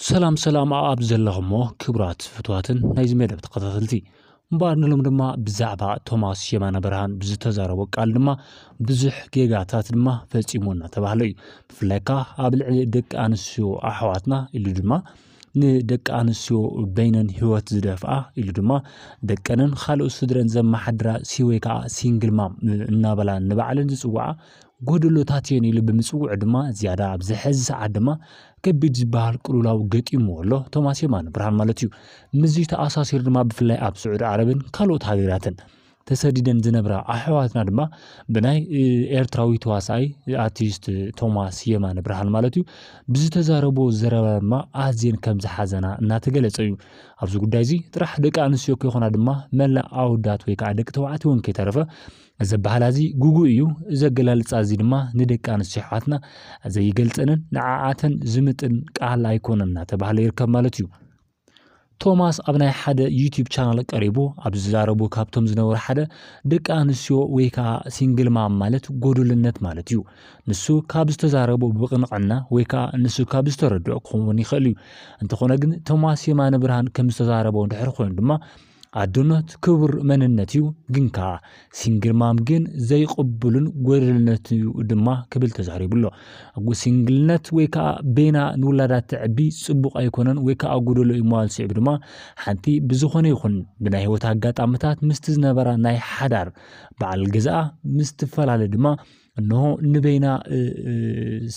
ሰላም ሰላም ኣብ ዘለኹሞ ክብራት ፍትዋትን ናይዚ መደብ ተኸታተልቲ እምበኣር ንሎም ድማ ብዛዕባ ቶማስ የማነ ብርሃን ብዝተዛረቦ ቃል ድማ ብዙሕ ጌጋታት ድማ ፈፂሙ እናተባህለ እዩ ብፍላይ ከዓ ኣብ ልዕሊ ደቂ ኣንስትዮ ኣሕዋትና ኢሉ ድማ ንደቂ ኣንስትዮ በይነን ህይወት ዝደፍኣ ኢሉ ድማ ደቀንን ካልኦት ስድረን ዘመሓድራ ሲወይ ከዓ ሲንግል ማም እናበላ ንባዕለን ዝፅውዓ ጎደሎታት እየን ኢሉ ብምጽውዑ ድማ ዝያዳ ኣብዚ ሕዚ ሰዓት ድማ ከቢድ ዝበሃል ቅልውላው ገጢሙ ኣሎ ቶማስ የማነ ብርሃን ማለት እዩ ምስዚ ተኣሳሲሩ ድማ ብፍላይ ኣብ ስዑዲ ዓረብን ካልኦት ሃገራትን ተሰዲደን ዝነብራ ኣሕዋትና ድማ ብናይ ኤርትራዊ ተዋሳኣይ ኣርቲስት ቶማስ የማነ ብርሃን ማለት እዩ ብዝተዛረቦ ዘረባ ድማ ኣዝየን ከም ዝሓዘና እናተገለጸ እዩ ኣብዚ ጉዳይ እዚ ጥራሕ ደቂ ኣንስትዮ ከይኮና ድማ መላእ ኣወዳት ወይ ከዓ ደቂ ተባዕትዮ እውን ከይተረፈ እዚ ኣበሃህላ እዚ ግጉይ እዩ፣ እዚ ኣገላልጻ እዚ ድማ ንደቂ ኣንስትዮ ኣሕዋትና ዘይገልጸንን ንዓኣተን ዝምጥን ቃል ኣይኮነን እናተባህለ ይርከብ ማለት እዩ። ቶማስ ኣብ ናይ ሓደ ዩቲዩብ ቻናል ቀሪቡ ኣብ ዝዛረቡ ካብቶም ዝነበሩ ሓደ ደቂ ኣንስትዮ ወይ ከዓ ሲንግል ማም ማለት ጎዱልነት ማለት እዩ ንሱ ካብ ዝተዛረቡ ብቕንዕና ወይ ከዓ ንሱ ካብ ዝተረድኦ ክኸውን ይኽእል እዩ እንተኾነ ግን ቶማስ የማነ ብርሃን ከም ዝተዛረበ ድሕር ኮይኑ ድማ ኣዶነት ክቡር መንነት እዩ ግን ከኣ ሲንግል ማም ግን ዘይቕብሉን ጎደልነት እዩ ድማ ክብል ተዛሪቡ ኣሎ። ሲንግልነት ወይ ከኣ ቤና ንውላዳ ተዕቢ ጽቡቕ ኣይኮነን ወይ ከኣ ጎደሎ እዩ ምባል ስዒቡ ድማ ሓንቲ ብዝኾነ ይኹን ብናይ ህይወት ኣጋጣምታት ምስቲ ዝነበራ ናይ ሓዳር በዓል ገዝኣ ምስ ትፈላለ ድማ እንሆ ንበይና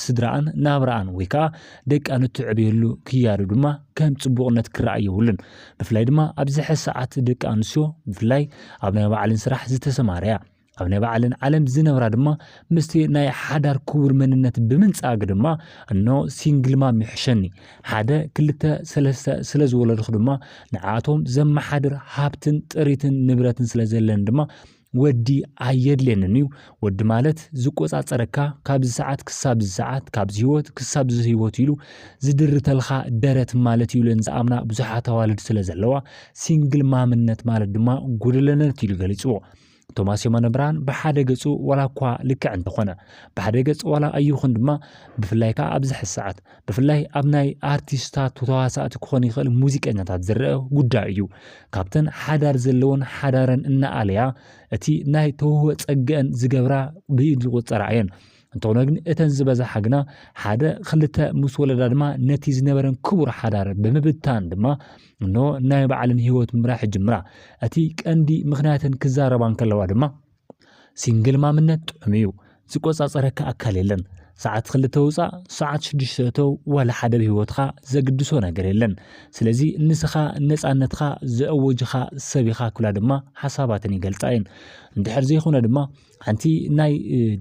ስድራኣን ናብራኣን ወይ ከዓ ደቃን እትዕብየሉ ክያዶ ድማ ከም ፅቡቕነት ክረኣ የብሉን ብፍላይ ድማ ኣብዚ ሕዚ ሰዓት ደቂ ኣንስትዮ ብፍላይ ኣብ ናይ ባዕለን ስራሕ ዝተሰማረያ ኣብ ናይ ባዕለን ዓለም ዝነብራ ድማ ምስቲ ናይ ሓዳር ክቡር መንነት ብምንፃግ ድማ እኖ ሲንግልማም ይሕሸኒ ሓደ ክልተ ሰለስተ ስለ ዝወለድኹ ድማ ንዓቶም ዘመሓድር ሃብትን ጥሪትን ንብረትን ስለ ዘለን ድማ ወዲ ኣየድልየንን እዩ ወዲ ማለት ዝቆጻጸረካ ካብዚ ሰዓት ክሳብ እዚ ሰዓት ካብዚ ህይወት ክሳብ እዚ ህይወት ኢሉ ዝድርተልካ ደረት ማለት እዩ ኢለን ዝኣምና ብዙሓት ኣዋልድ ስለ ዘለዋ ሲንግል ማምነት ማለት ድማ ጉደለነት ኢሉ ገሊጽዎ ቶማስ የማነ ብርሃን ብሓደ ገጹ ዋላ እኳ ልክዕ እንተኾነ ብሓደ ገጽ ዋላ ኣይኹን ድማ ብፍላይ ከዓ ኣብዚ ሕዚ ሰዓት ብፍላይ ኣብ ናይ ኣርቲስታት ተዋሳእቲ ክኾን ይኽእል ሙዚቀኛታት ዝረአ ጉዳይ እዩ ካብተን ሓዳር ዘለዎን ሓዳረን እናኣለያ እቲ ናይ ተውህቦ ጸገአን ዝገብራ ብኢድ ዝቑጸራ እየን እንተኾነ ግን እተን ዝበዝሓ ግና ሓደ ክልተ ምስ ወለዳ ድማ ነቲ ዝነበረን ክቡር ሓዳር ብምብታን ድማ እኖ ናይ ባዕለን ህይወት ምራሕ ጅምራ እቲ ቀንዲ ምክንያተን ክዛረባ እንከለዋ ድማ ሲንግል ማምነት ጥዑም እዩ ዝቆጻጸረካ ኣካል የለን ሰዓት ክልተ ውፃእ ሰዓት ሽዱሽተ እተው ዋላ ሓደ ብህይወትኻ ዘግድሶ ነገር የለን ስለዚ ንስኻ ነፃነትካ ዘእወጅኻ ሰብ ኢኻ ክብላ ድማ ሓሳባትን ይገልፃ እየን እንድሕር ዘይኮነ ድማ ሓንቲ ናይ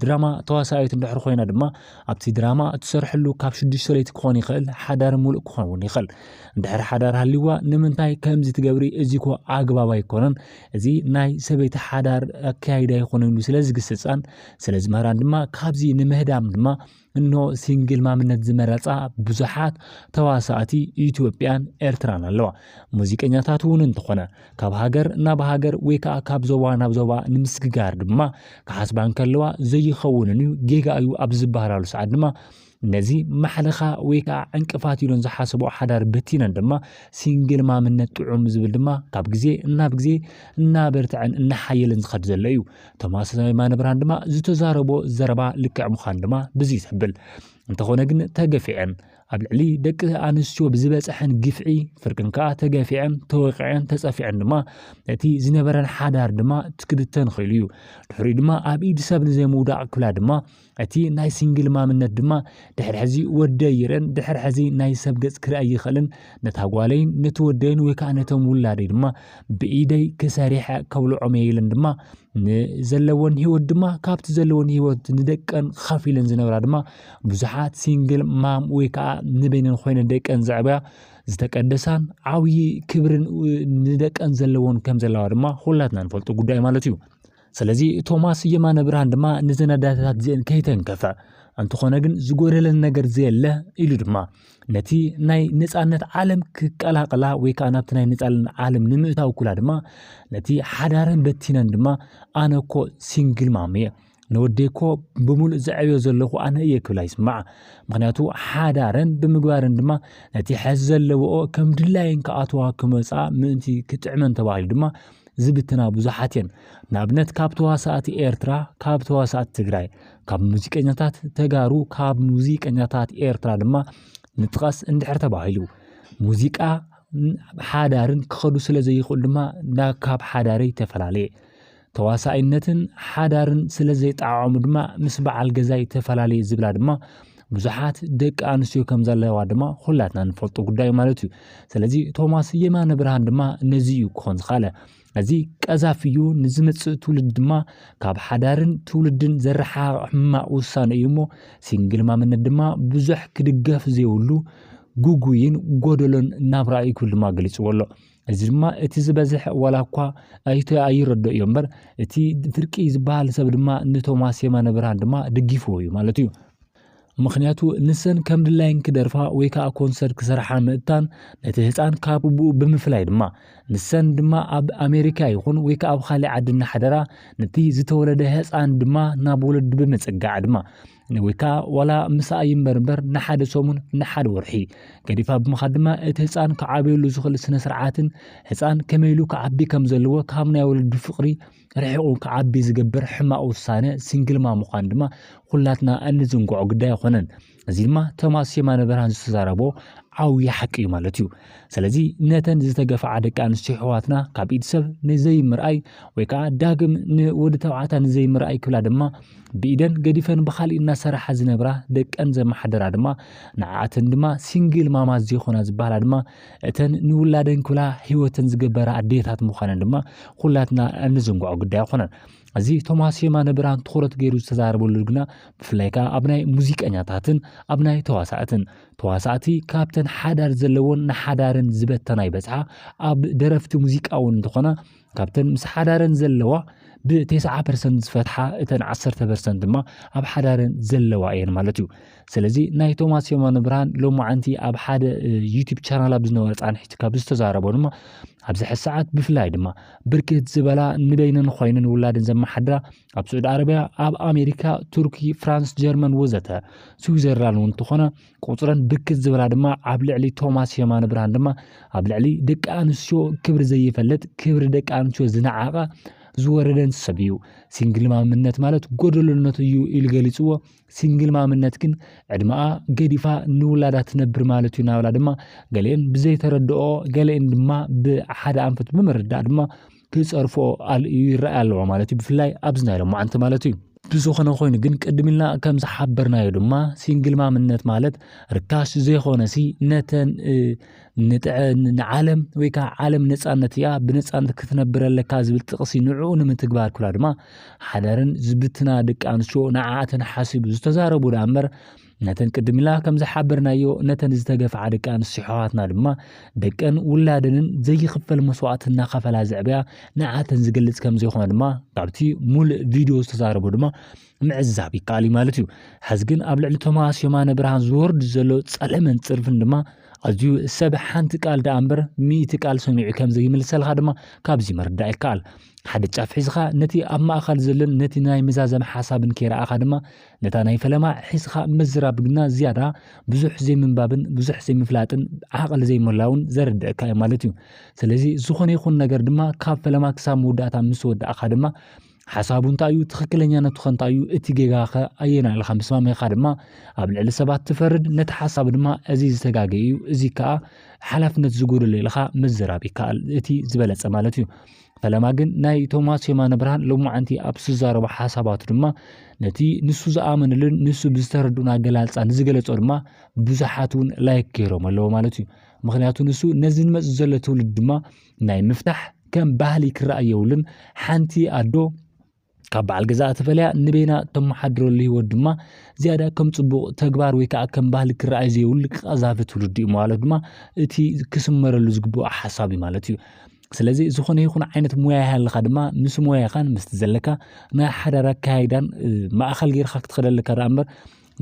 ድራማ ተዋሳኣየት እንድሕር ኮይና ድማ ኣብቲ ድራማ እትሰርሐሉ ካብ ሽዱሽተ ለይቲ ክኾን ይኽእል ሓዳር ሙሉእ ክኸውን ይኽእል እንድሕር ሓዳር ሃልዋ ንምንታይ ከምዚ ትገብሪ እዚ ኮ ኣግባብ ኣይኮነን እዚ ናይ ሰበይቲ ሓዳር ኣካያይዳ ይኾነ ኢሉ ስለ ዝግስጻን ስለ ዝምህራን ድማ ካብዚ ንምህዳም ድማ እንሆ ሲንግል ማምነት ዝመረጻ ብዙሓት ተዋሳእቲ ኢትዮጵያን ኤርትራን ኣለዋ። ሙዚቀኛታት እውን እንተኾነ ካብ ሃገር ናብ ሃገር ወይ ከዓ ካብ ዞባ ናብ ዞባ ንምስግጋር ድማ ክሓስባ እንከለዋ ዘይኸውንን እዩ ጌጋ እዩ ኣብ ዝበሃላሉ ሰዓት ድማ ነዚ ማሕለኻ ወይ ከዓ ዕንቅፋት ኢሎን ዝሓሰቦ ሓዳር በቲነን ድማ ሲንግል ማምነት ጥዑም ዝብል ድማ ካብ ግዜ እናብ ግዜ እናበርትዐን እናሓየለን ዝኸድ ዘሎ እዩ። ቶማስ ማነብርሃን ድማ ዝተዛረቦ ዘረባ ልክዕ ምዃን ድማ ብዚ ዘብል እንተኾነ ግን ተገፊዐን ኣብ ልዕሊ ደቂ ኣንስትዮ ብዝበፀሐን ግፍዒ ፍርቅን ከዓ ተገፊዐን ተወቂዐን ተፀፊዐን ድማ እቲ ዝነበረን ሓዳር ድማ ትክብተን ኽኢሉ እዩ ድሕሪኡ ድማ ኣብ ኢድ ሰብ ንዘይምውዳቕ ክብላ ድማ እቲ ናይ ሲንግል ማምነት ድማ ድሕር ሕዚ ወደይ ይረን ድሕር ሕዚ ናይ ሰብ ገጽ ክርእ ኣይኸልን ነታ ጓለይን ነቲ ወደይን ወይ ከዓ ነቶም ውላደይ ድማ ብኢደይ ክሰሪሐ ከብልዖም እየ ኢለን ድማ ንዘለወን ህይወት ድማ ካብቲ ዘለወን ህይወት ንደቀን ከፊለን ዝነብራ ድማ ብዙሓት ሲንግል ማም ወይ ከዓ ንበይነን ኮይነ ደቀን ዘዕበያ ዝተቀደሳን ዓብዪ ክብርን ንደቀን ዘለዎን ከም ዘለዋ ድማ ሁላትና ንፈልጡ ጉዳይ ማለት እዩ ስለዚ ቶማስ የማነብርሃን ድማ ንዘናዳታት እዚኤን ከይተንከፈ እንተኾነ ግን ዝጎደለን ነገር ዘየለ ኢሉ ድማ ነቲ ናይ ነፃነት ዓለም ክቀላቀላ ወይ ከዓ ናብቲ ናይ ነፃነት ዓለም ንምእታው ኩላ ድማ ነቲ ሓዳረን በቲነን ድማ ኣነ እኮ ሲንግል ማም እየ ንወደይ እኮ ብምሉእ ዘዕብዮ ዘለኹ ኣነ እየ ክብላ ይስማዕ ምክንያቱ ሓዳረን ብምግባረን ድማ ነቲ ሕዚ ዘለዎኦ ከም ድላየን ክኣትዋ ክመፃ ምእንቲ ክጥዕመን ተባሂሉ ድማ ዝብትና ብዙሓት እየን። ንኣብነት ካብ ተዋሳእቲ ኤርትራ፣ ካብ ተዋሳእቲ ትግራይ፣ ካብ ሙዚቀኛታት ተጋሩ፣ ካብ ሙዚቀኛታት ኤርትራ ድማ ንጥቀስ እንድሕር ተባሂሉ ሙዚቃ ሓዳርን ክኸዱ ስለ ዘይኽእሉ ድማ ናብ ካብ ሓዳረይ ተፈላለየ ተዋሳኣይነትን ሓዳርን ስለ ዘይጠዓዓሙ ድማ ምስ በዓል ገዛይ ተፈላለየ ዝብላ ድማ ብዙሓት ደቂ ኣንስትዮ ከም ዘለዋ ድማ ኩላትና ንፈልጦ ጉዳይ ማለት እዩ ስለዚ ቶማስ የማነ ብርሃን ድማ ነዚ እዩ ክኾን ዝኻለ እዚ ቀዛፊ እዩ ንዝመፅእ ትውልድ ድማ ካብ ሓዳርን ትውልድን ዘረሓቕ ሕማቕ ውሳነ እዩ እሞ ሲንግል ማምነት ድማ ብዙሕ ክድገፍ ዘይብሉ ጉጉይን ጎደሎን ናብራ እዩ ክብል ድማ ገሊፅዎ ኣሎ እዚ ድማ እቲ ዝበዝሐ ዋላ እኳ ኣይቶ ኣይረዶ እዮ እምበር እቲ ፍርቂ ዝበሃል ሰብ ድማ ንቶማስ የማነ ብርሃን ድማ ድጊፍዎ እዩ ማለት እዩ ምክንያቱ ንሰን ከም ድላይን ክደርፋ ወይ ከዓ ኮንሰርት ክሰርሓ ምእታን ነቲ ህፃን ካብ ብኡ ብምፍላይ ድማ ንሰን ድማ ኣብ ኣሜሪካ ይኹን ወይ ከዓ ኣብ ካሊእ ዓዲ እናሓደራ ነቲ ዝተወለደ ህፃን ድማ ናብ ወለዱ ብምፅጋዕ ድማ ወይ ከዓ ዋላ ምሳኣ ይንበር እምበር ንሓደ ሰሙን ንሓደ ወርሒ ገዲፋ ብምኻድ ድማ እቲ ህፃን ክዓበየሉ ዝኽእል ስነ ስርዓትን ህፃን ከመይ ኢሉ ክዓቢ ከም ዘለዎ ካብ ናይ ወለዱ ፍቅሪ ርሒቑ ክዓቢ ዝገብር ሕማቕ ውሳነ ሲንግልማ ምዃን ድማ ኩላትና እንዝንግዖ ግዳይ ኣይኮነን። እዚ ድማ ቶማስ የማነ ብርሃን ዝተዛረቦ ዓብዪ ሓቂ እዩ ማለት እዩ። ስለዚ ነተን ዝተገፍዓ ደቂ ኣንስትዮ ኣሕዋትና ካብ ኢድ ሰብ ንዘይምርኣይ ወይ ከዓ ዳግም ንወዲ ተባዕታ ንዘይምርኣይ ክብላ ድማ ብኢደን ገዲፈን ብካሊእ እናሰራሓ ዝነብራ ደቀን ዘመሓደራ ድማ ንዓኣተን ድማ ሲንግል ማማት ዘይኮና ዝበሃላ ድማ እተን ንውላደን ክብላ ሂወተን ዝገበራ ኣዴታት ምዃነን ድማ ኩላትና እንዝንግዖ ጉዳይ ኣይኮነን። እዚ ቶማስ የማነ ብርሃን ትኹረት ገይሩ ዝተዛረበሉ ግና ብፍላይ ከዓ ኣብ ናይ ሙዚቀኛታትን ኣብ ናይ ተዋሳእትን ተዋሳእቲ ካብተን ሓዳር ዘለዎን ንሓዳረን ዝበተና ይበጽሓ ኣብ ደረፍቲ ሙዚቃ እውን እንተኾና ካብተን ምስ ሓዳረን ዘለዋ ብቴስዓ ፐርሰንት ዝፈትሓ እተን ዓሰርተ ፐርሰንት ድማ ኣብ ሓዳረን ዘለዋ እየን ማለት እዩ ስለዚ ናይ ቶማስ የማነ ብርሃን ሎማዓንቲ ኣብ ሓደ ዩቲብ ቻናል ኣብ ዝነበረ ፃንሒቲ ካብ ዝተዛረቦ ድማ ኣብዚ ሕዚ ሰዓት ብፍላይ ድማ ብርክት ዝበላ ንበይነን ኾይነን ውላድን ዘመሓድራ ኣብ ስዑድ ዓረብያ ኣብ ኣሜሪካ ቱርኪ ፍራንስ ጀርመን ወዘተ ስዊዘርላንድ እውን እንተኾነ ቁፅረን ብርክት ዝበላ ድማ ኣብ ልዕሊ ቶማስ የማነ ብርሃን ድማ ኣብ ልዕሊ ደቂ ኣንስትዮ ክብሪ ዘይፈልጥ ክብሪ ደቂ ኣንስትዮ ዝነዓቐ ዝወረደን ሰብ እዩ ሲንግል ማምነት ማለት ጎደሎነት እዩ ኢሉ ገሊፅዎ ሲንግል ማምነት ግን ዕድመኣ ገዲፋ ንውላዳ ትነብር ማለት እዩ ናብላ ድማ ገሊአን ብዘይተረድኦ ገሊአን ድማ ብሓደ ኣንፈት ብምርዳእ ድማ ክጸርፎ ኣልእዩ ይረኣይ ኣለዎ ማለት እዩ ብፍላይ ኣብዚ ናይ ሎማዓንቲ ማለት እዩ ብዝኾነ ኮይኑ ግን ቅድም ኢልና ከም ዝሓበርናዮ ድማ ሲንግል ማምነት ማለት ርካሽ ዘይኮነሲ ነተን ንጥዐ ንዓለም ወይ ከዓ ዓለም ነፃነት እያ ብነፃነት ክትነብር ኣለካ ዝብል ጥቕሲ ንዕኡ ንምትግባር ክብላ ድማ ሓዳረን ዝብትና ደቂ ኣንስትዮ ንዓኣተን ሓሲቡ ዝተዛረቡ ደኣ እምበር ነተን ቅድም ኢላ ከም ዝሓበርናዮ ነተን ዝተገፍዓ ደቂ ኣንስትዮ ኣሕዋትና ድማ ደቀን ውላደንን ዘይኽፈል መስዋእቲ እናኸፈላ ዘዕብያ ንዓተን ዝገልጽ ከም ዘይኮነ ድማ ካብቲ ሙሉእ ቪድዮ ዝተዛረቦ ድማ ምዕዛብ ይከኣል እዩ ማለት እዩ ሕዚ ግን ኣብ ልዕሊ ቶማስ የማነ ብርሃን ዝወርድ ዘሎ ጸለመን ጽርፍን ድማ ኣዝዩ ሰብ ሓንቲ ቃል ደኣ እምበር ሚእቲ ቃል ሰሚዑ ከም ዘይምልሰልካ ድማ ካብዚ ምርዳእ ይከኣል ሓደ ጫፍ ሒዝኻ ነቲ ኣብ ማእኸል ዘሎን ነቲ ናይ መዛዘም ሓሳብን ከይረኣኻ ድማ ነታ ናይ ፈለማ ሒስኻ ምዝራብ ግና ዝያዳ ብዙሕ ዘይምንባብን ብዙሕ ዘይምፍላጥን ዓቕሊ ዘይምህላውን ዘረድእካ እዩ ማለት እዩ። ስለዚ ዝኾነ ይኹን ነገር ድማ ካብ ፈለማ ክሳብ መወዳእታ ምስ ወዳእካ ድማ ሓሳቡ እንታይ እዩ ትኽክለኛነቱ ኸ እንታይ እዩ እቲ ጌጋ ኸ ኣየና ኢልካ ምስ ማመኻ ድማ ኣብ ልዕሊ ሰባት ትፈርድ ነቲ ሓሳብ ድማ እዚ ዝተጋገ እዩ እዚ ከዓ ሓላፍነት ዝጎደሎ ኢልካ ምዝራብ ይከኣል እቲ ዝበለፀ ማለት እዩ። ፈለማ ግን ናይ ቶማስ የማነ ብርሃን ሎማዓንቲ ኣብ ዝዛረቦ ሓሳባቱ ድማ ነቲ ንሱ ዝኣመነሉን ንሱ ብዝተረድኡን ኣገላልፃ ንዝገለፆ ድማ ብዙሓት እውን ላይክ ገይሮም ኣለዎ ማለት እዩ ምክንያቱ ንሱ ነዚ ንመፅ ዘሎ ትውልድ ድማ ናይ ምፍታሕ ከም ባህሊ ክረኣ የብሉን ሓንቲ ኣዶ ካብ በዓል ገዛኣ ተፈልያ ንበይና ተመሓድረሉ ህይወት ድማ ዝያዳ ከም ጽቡቕ ተግባር ወይ ከዓ ከም ባህሊ ክረኣይ ዘይብሉ ቀዛፊ ትውልዲ እዩ ማለት ድማ እቲ ክስመረሉ ዝግብኦ ሓሳብ እዩ ማለት እዩ ስለዚ ዝኾነ ይኹን ዓይነት ሙያ ይሃለኻ ድማ ምስ ሙያኻን ምስቲ ዘለካ ናይ ሓዳር ኣካይዳን ማእኸል ጌርካ ክትኸደለካ ደኣ እምበር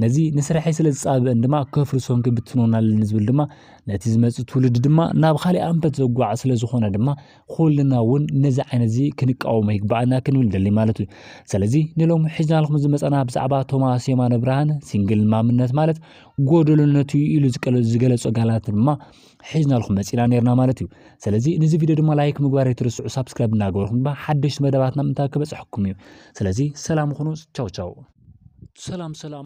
ነዚ ንስርሐይ ስለ ዝጻብእን ድማ ከፍርሶን ክብትኖን ኣለኒ ዝብል ድማ ነቲ ዝመጽእ ትውልዲ ድማ ናብ ካልእ ኣንፈት ዘጓዕ ስለ ዝኾነ ድማ ኩልና እውን ነዚ ዓይነት እዚ ክንቃወሞ ይግባኣና ክንብል ደሊ ማለት እዩ ስለዚ ንሎም ሒዝናልኩም ዝመጸና ብዛዕባ ቶማስ የማነ ብርሃን ሲንግል ማምነት ማለት ጎደሎነቱ ኢሉ ዝገለጾ ጋላት ድማ ሒዝናልኩም መፂና ነርና ማለት እዩ ስለዚ ንዚ ቪድዮ ድማ ላይክ ምግባር ኣይትርስዑ ሳብስክራይብ እናገበርኩም ድማ ሓደሽቲ መደባትና ምንታ ክበፅሐኩም እዩ ስለዚ ሰላም ኹኑ ቻው ቻው ሰላም ሰላም